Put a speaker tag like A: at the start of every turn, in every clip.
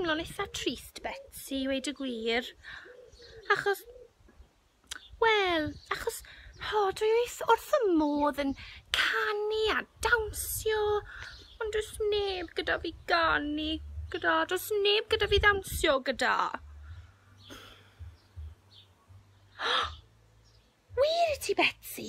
A: teimlo'n eitha trist Betsi, weud y gwir, achos Wel, achos ho, dwi wyth wrth y modd yn canu a dawnsio, ond does neb gyda fi ganu gyda, does neb gyda fi ddawnsio gyda. Wir i ti, Betsi?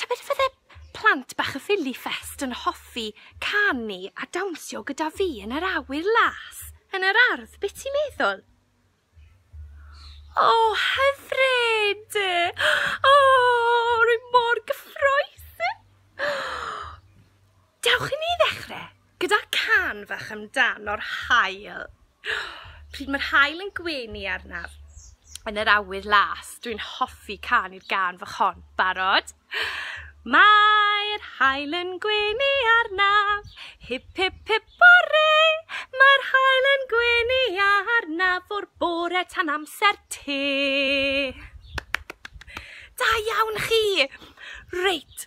A: Tybed fydde plant bach y Philly Fest yn hoffi canu a dawnsio gyda fi yn yr awyr las yn yr ardd, be ti'n meddwl? O, hyfryd! O, rwy mor gyffrous! Dewch i ni ddechrau gyda can fach amdano'r haul. Pryd mae'r haul yn gwenu arnaf yn yr awyr las, dwi'n hoffi can i'r gan fach hon. Barod? Mae'r haul yn gwenu arnaf, hip hip hip bore, mae'r haul yn gwenu arnaf o'r bore tan amser te. Da iawn chi! Reit,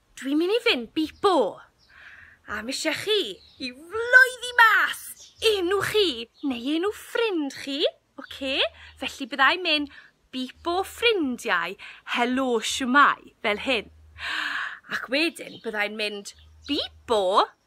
A: Dwi'n mynd i fynd bipo! A mishe chi i floeddi mas enw chi neu enw ffrind chi, oce? Felly byddai'n mynd bipo ffrindiau, helo, shwmae, fel hyn. Ac wedyn byddai'n mynd bipo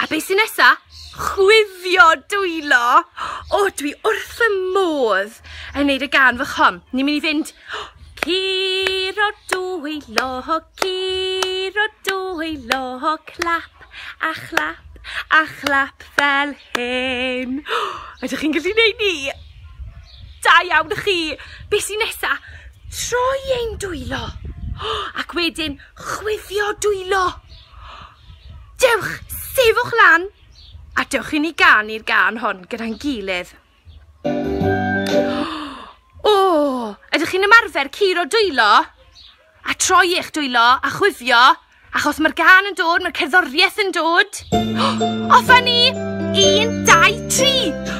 A: A beth sy'n nesa? Chwifio dwylo! O, oh, dwi wrth y modd yn neud y gan fy chom. Ni'n mynd i fynd... Curo dwylo, curo dwylo, clap a chlap a chlap fel hyn. Ydych chi'n gallu neud ni? Da iawn ych chi! Beth sy'n nesa? Troi ein dwylo! Ac wedyn chwifio dwylo! Dewch, sefwch lan, a dewch i ni ganu'r gan hon gyda'n gilydd. O, oh, ydych chi'n ymarfer curo dwylo? A troi eich dwylo a chwifio, achos mae'r gan yn dod, mae'r cerddoriaeth yn dod. Offa ni! Un, dau, tri!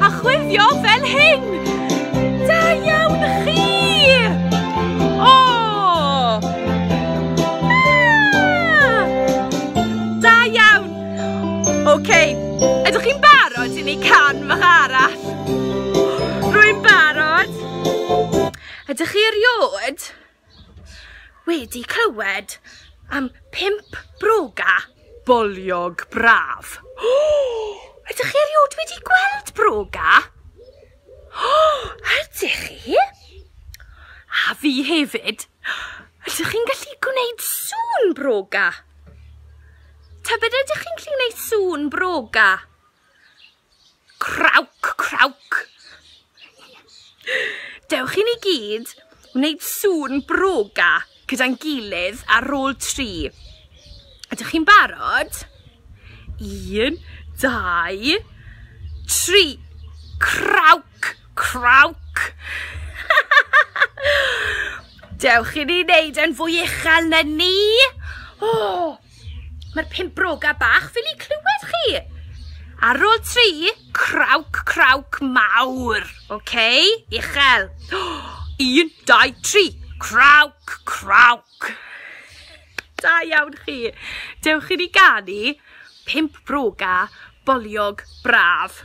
A: A chwifio fel hyn! Da iawn chi! O! Ah! Da iawn! OK, ydych chi'n barod i ni can fach arall? Rwy'n barod! Ydych chi eriod? Wedi clywed am pump broga? Boliog braf. Ydych chi erioed wedi gweld broga? Ydych chi? A fi hefyd. Ydych chi'n gallu gwneud sŵn broga? Tybed ydych chi'n gallu gwneud sŵn broga? Crauc, crauc! Dewch i ni gyd wneud sŵn broga gyda'n gilydd ar ôl tri. Ydych chi'n barod? Un, dau, tri. Crauc, crauc! Dewch i ni wneud e'n fwy uchel na ni. O! Mae'r pimp broga bach fel i clywed chi. Ar ôl tri, crawc, crawc mawr. Oce, okay? uchel. Un, dau, tri, crawc, crawc. Da iawn chi. Dewch i ni ganu pimp broga, boliog, braf.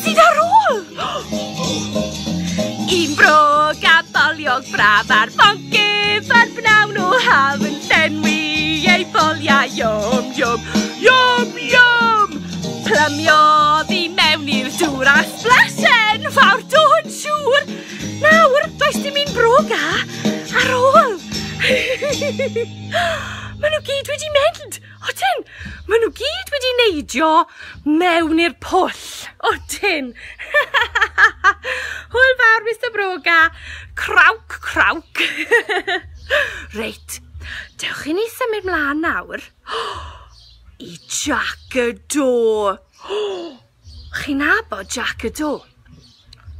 A: Sydd ar ôl? Un bro gaboliog braf ar fongyf ar bnawn o haf yn llenwi ei boliau iom, iom, iom, iom! Plymiodd i mewn i'r dŵr a splasen fawr dod siŵr. Nawr, does dim un broga ar ôl. Maen nhw gyd wedi mynd. Odyn! Maen nhw gyd wedi neidio mewn i'r pwll. Odyn! Hwyl fawr, Mr Broga. Crawc, crawc. Reit, dewch i ni symud mlaen nawr. I Jack y Do. Chi'n nabod Jack y Do?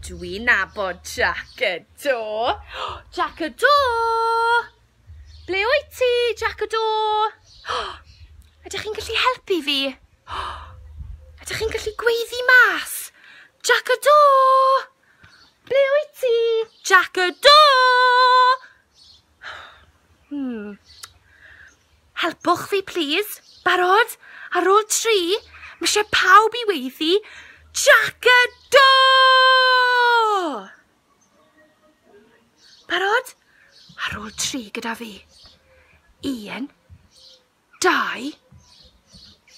A: Dwi'n nabod Jack y Do. Jack y Do! Ble wyt ti, Jac y Do? Ydych chi'n gallu helpu fi? Ydych chi'n gallu gweiddi mas? Jac y Do! Ble wyt ti, Jac y Do? Hmm. Helpwch fi, plîs. Barod? Ar ôl tri, mae eisiau pawb i weiddi Jac y Do! Barod? Ar ôl tri gyda fi. Un, dau,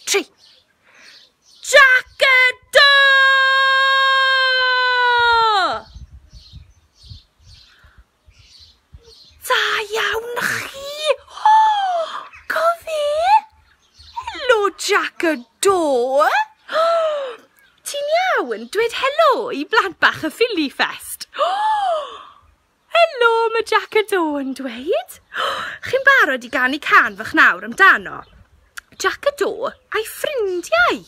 A: tri. Jack y do! Da iawn chi! Helo, Jac y Do! Ti'n iawn? Dwed helo i blant bach y Ffili Ffest. Helo, mae Jac y Do yn dweud. Chi'n barod i ganu can fach nawr amdano? Jac y Do a'i ffrindiau!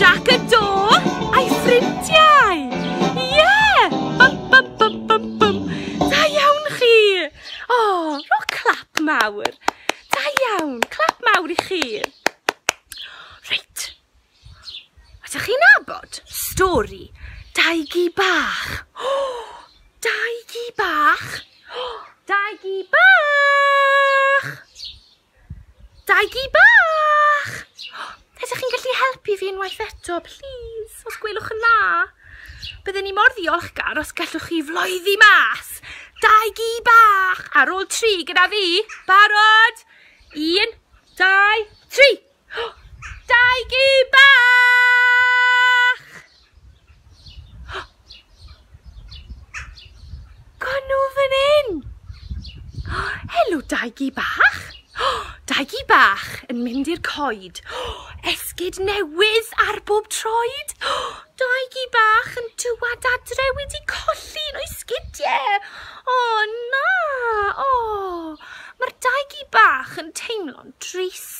A: Jac y do a'i ffrindiau! Ie! Yeah! Bum, bum, bum, bum, bum. Da iawn chi! O, oh, ro clap mawr. Da iawn, clap mawr i chi. Reit. Ydych chi'n abod stori dau gi bach? O, oh, dau gi bach? O, oh, dau gi bach! Dau gi bach! Ydych chi'n gallu helpu fi unwaith eto, please, os gwelwch yn dda? Byddwn ni mor ddiolchgar os gallwch chi floeddi mas. Dau gi bach! Ar ôl tri gyda fi. Barod? Un, dau, tri! Daigi bach! Gawn nhw fan hyn! Helo, Daigi bach! Daigi bach yn mynd i'r coed. Esgid newydd ar bob troed. Daigi bach yn dywad adre wedi colli un o'i sgidiau. O, na! O! Mae'r daigi bach yn teimlo'n drist.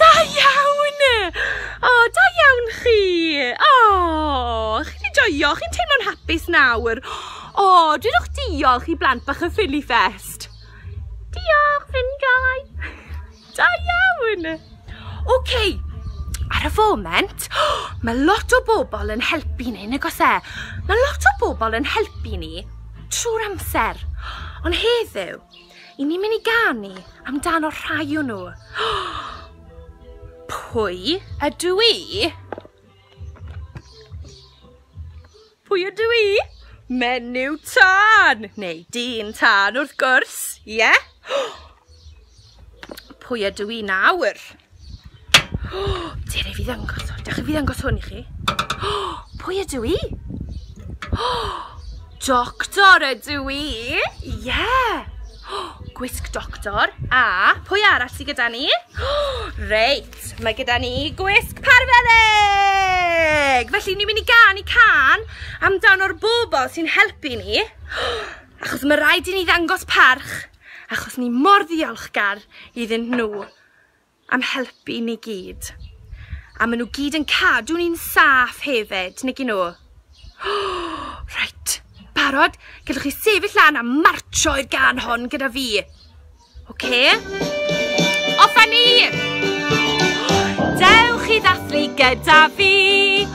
A: Da iawn! O, da iawn chi! O, chi'n wedi joio, chi'n teimlo'n hapus nawr? O, dwedwch diolch i blant bach y Ffili Fest. Diolch, ffrindiau! Da iawn! Oce, okay. ar y foment, mae lot o bobl yn helpu ni, nag os e? Mae lot o bobl yn helpu ni trwy'r amser. Ond heddiw, I ni'n mynd i ganu amdano rhai o nhw. Pwy ydw i? Pwy ydw i? Menyw tân! Neu dyn tân wrth gwrs, ie? Yeah? Pwy ydw i nawr? Ti ar ei fi ddangos hwn. Dewch i fi ddangos hwn i chi. Pwy ydw i? Doctor ydw i! Ie! Yeah. Gwisg doctor. A pwy arall sydd gyda ni? Reit, mae gyda ni gwisg parfeddig! Felly ni'n mynd i gan i can amdan o'r bobl sy'n helpu ni. Achos mae rhaid i ni ddangos parch achos ni mor ddiolchgar iddyn nhw. am helpu i ni gyd. A maen nhw gyd yn cadw ni'n saff hefyd, nag i nhw? Reit, barod? Gallwch chi sefyll lan a marcho i'r gan hon gyda fi. Oce? Off â ni! Dewch i ddathlu gyda fi!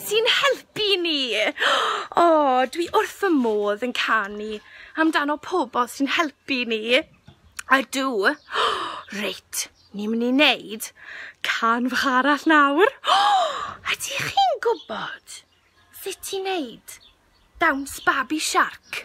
A: sy'n helpu ni! O, dwi wrth fy modd yn canu amdano pobl sy'n helpu ni. Ydw. Reit, ni myn' i neud can fach arall nawr. Ydych chi'n gwbod sut i neud dawns babi siarc?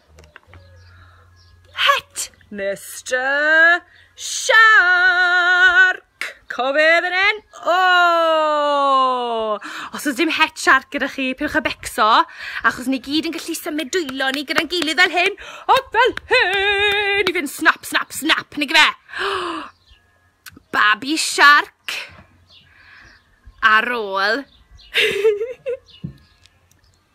A: Het, Mister Shark! Cofydd yn hyn? O! Os oes dim het shark gyda chi, pylwch y becso, achos ni gyd yn gallu symud dwylo ni gyda'n gilydd fel hyn, a fel hyn, i fynd snap, snap, snap, neu gyfe? Babi shark ar ôl.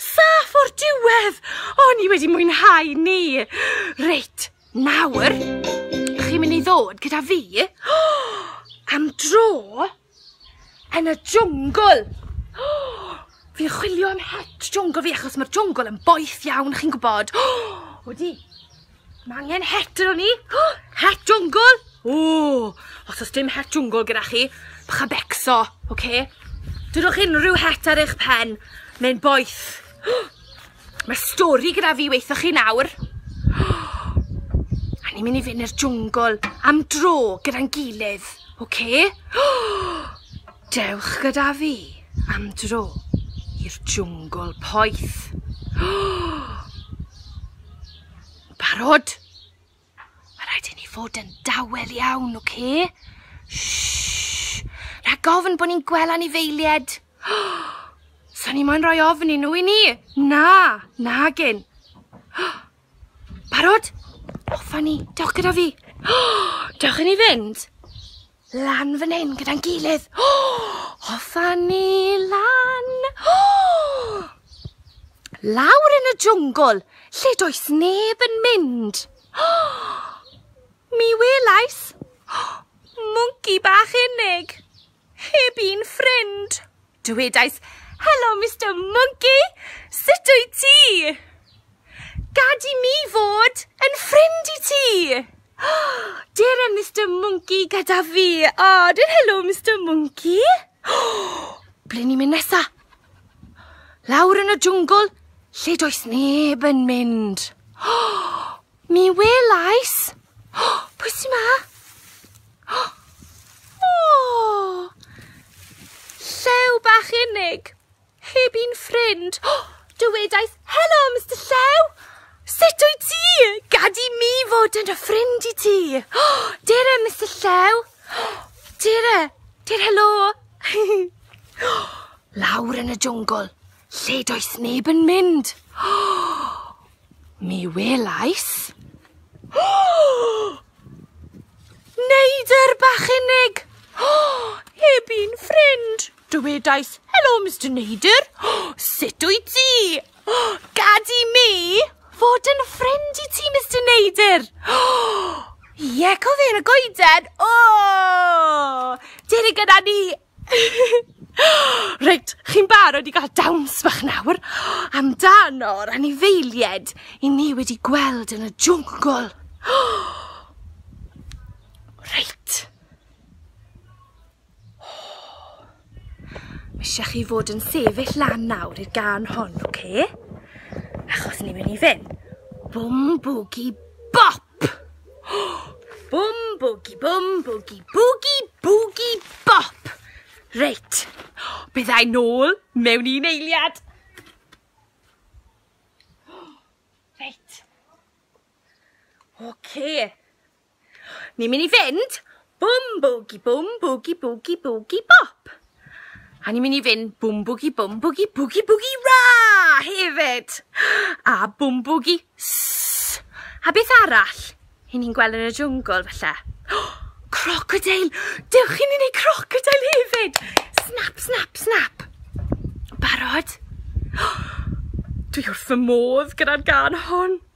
A: Saff o'r diwedd! O, ni wedi mwynhau ni! Reit, nawr, chi'n mynd i ddod gyda fi am dro yn y jwngl. Fi'n chwilio am het jwngl fi achos mae'r jwngl yn boeth iawn, chi'n gwybod. O, di! Mae angen het yn ni. Het jwngl! Ww! Os oes dim het jwngl gyda chi, bych a becso, oce? Okay? Dydwch unrhyw het ar eich pen, neu'n boeth. Mae stori gyda fi weithoch chi nawr. A ni'n mynd i fynd i'r jwngl am dro gyda'n gilydd, oce? Okay? Dewch gyda fi am dro i'r jwngl poeth. Barod? Mae rhaid i ni fod yn dawel iawn, oce? Okay? Shhh! Rha gofn bod ni'n gweld anifeilied. Sa'n ni moyn rhoi ofn i nhw i ni? Na, na gen. Barod? Offa ni, dewch gyda fi. Dewch i ni fynd. Lan fan hyn gyda'n gilydd. Hoffa ni lan. Lawr yn y jwngl, lle does neb yn mynd. Mi welais mwnci bach unig, heb un ffrind. Dywedais, Helo, Mister Monkey! Sut wyt ti? Gad i mi fod yn ffrind i ti! Dere, Mister Monkey, gyda fi! O, dwi'n helo, Mister Monkey! Ble ni'n mynd nesa? Lawr yn y jwngl, lle does neb yn mynd. Mi welais! O, pwy sy'n ma? O! Llew bach unig! Heb un ffrind! O! Dywedaeth, Helo, Mr Llew! Sut wyt ti? Gad i mi fod yn y ffrind i ti! O! Dere, Mr Llew! O! Dere! Dere, helo! O! Lawr yn y jwngl, lle does neb yn mynd! O! Mi welais... Neidr bach unig! Heb un ffrind! Dywedais, Helo, Mister Neidr! Sut wyt ti? Gad i mi fod yn ffrind i ti, Mister Neidr! Ie, cofion y goeden! O! Dere gyda ni! Reit, chi'n barod i gael dawns bach nawr amdano'r anifeilied i ni wedi gweld yn y jwngl? Reit. Mae eisiau chi fod yn sefyll lan nawr i'r gan hon, oce? Achos ni'n mynd i fynd bwm bwgi bop! Bwm bwgi bwm bwgi bwgi bwgi bop. Reit. Byddai nôl mewn un eiliad. Reit. Oce. Okay. Ni'n mynd i fynd Bum boogie bum boogie boogie boogie bop! A ni'n mynd i fynd bum boogie bum boogie boogie boogie ra hefyd! A bum boogie ss! A beth arall? Hyn ni'n gweld yn y jwngl falle? Crocodeil! Dewch i ni wneud crocodeil hefyd! Snap, snap, snap! Barod? Dwi wrth fy modd gyda'r gân hon!